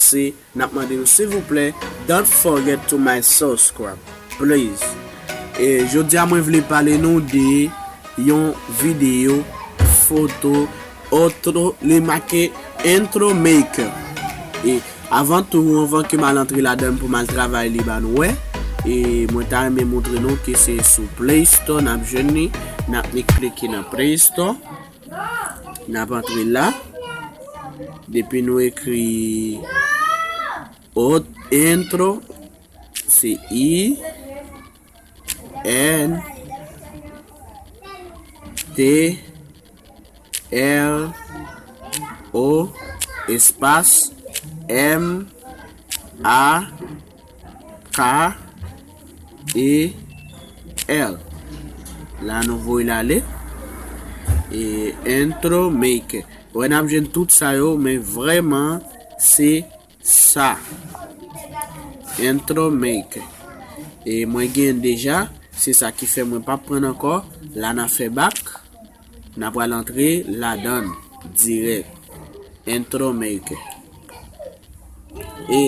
Se nap mande nou silvouplè don't forget to my subscribe please e jodia mwen vle pale nou de yon video foto otro li make intro maker e avan tou anvan ke mal antre ladann pou mal travay li ba nou wè e mwen ta renmen montre nou ke se sou play store nap jwenn li nap ni klike nan play store. Nap antre la. Depi nou ekri ot entro se i n t r o espas m a K E L La nou voye la le. E intro maker. Wè n ap jwenn tout sa yo men vreman se sa. Intro maker. E mwen gen deja. Se sa ki fè mwen pa pran ankò. La na fè bak. Na pral antre ladann dirèk. Intro Maker. E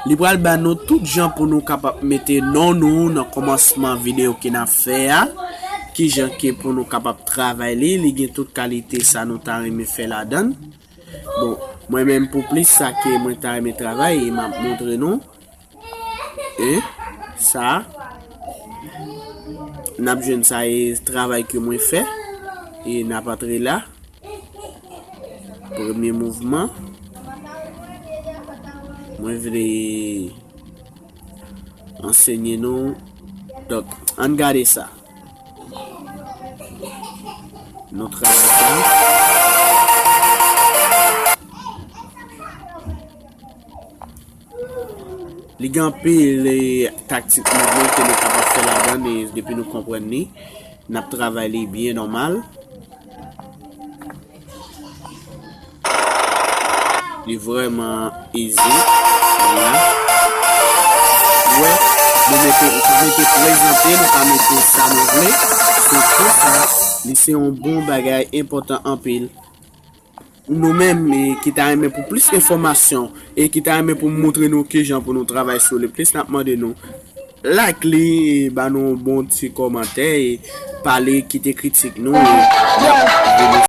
li pral ba nou tout jan pou nou kapap mete non nou nan komansman video ke nap fè a. Ki jan ke pou nou kapap travay li. Li gen tout kalite sa nou ta renmen fè ladann. Bon, mwen menm pou plis sa ke mwen ta renmen travay e map montre nou. E sa nap jwenn sa e travay ke mwen fè e nap antre la premye mouvman mwen vle ansenye nou dok an gade sa nou travay sa Li gen anpil taktik nouvo ke nou kapab fè ladann e depi nou konprann li, n ap travay li byen nòmal. Li vrèman izi. Wè, nou mete, nou pa mete prezante, nou pa mete sa nou vle. Se konsa, li se yon bon bagay enpòtan anpil. Nou menm ki ta renmen pou plis enfòmasyon e ki ta renmen pou moutre nou kijan pou nou travay sou li plis nap mande nou like li e ba nou bon ti kòmantè e pale kite kritik nou.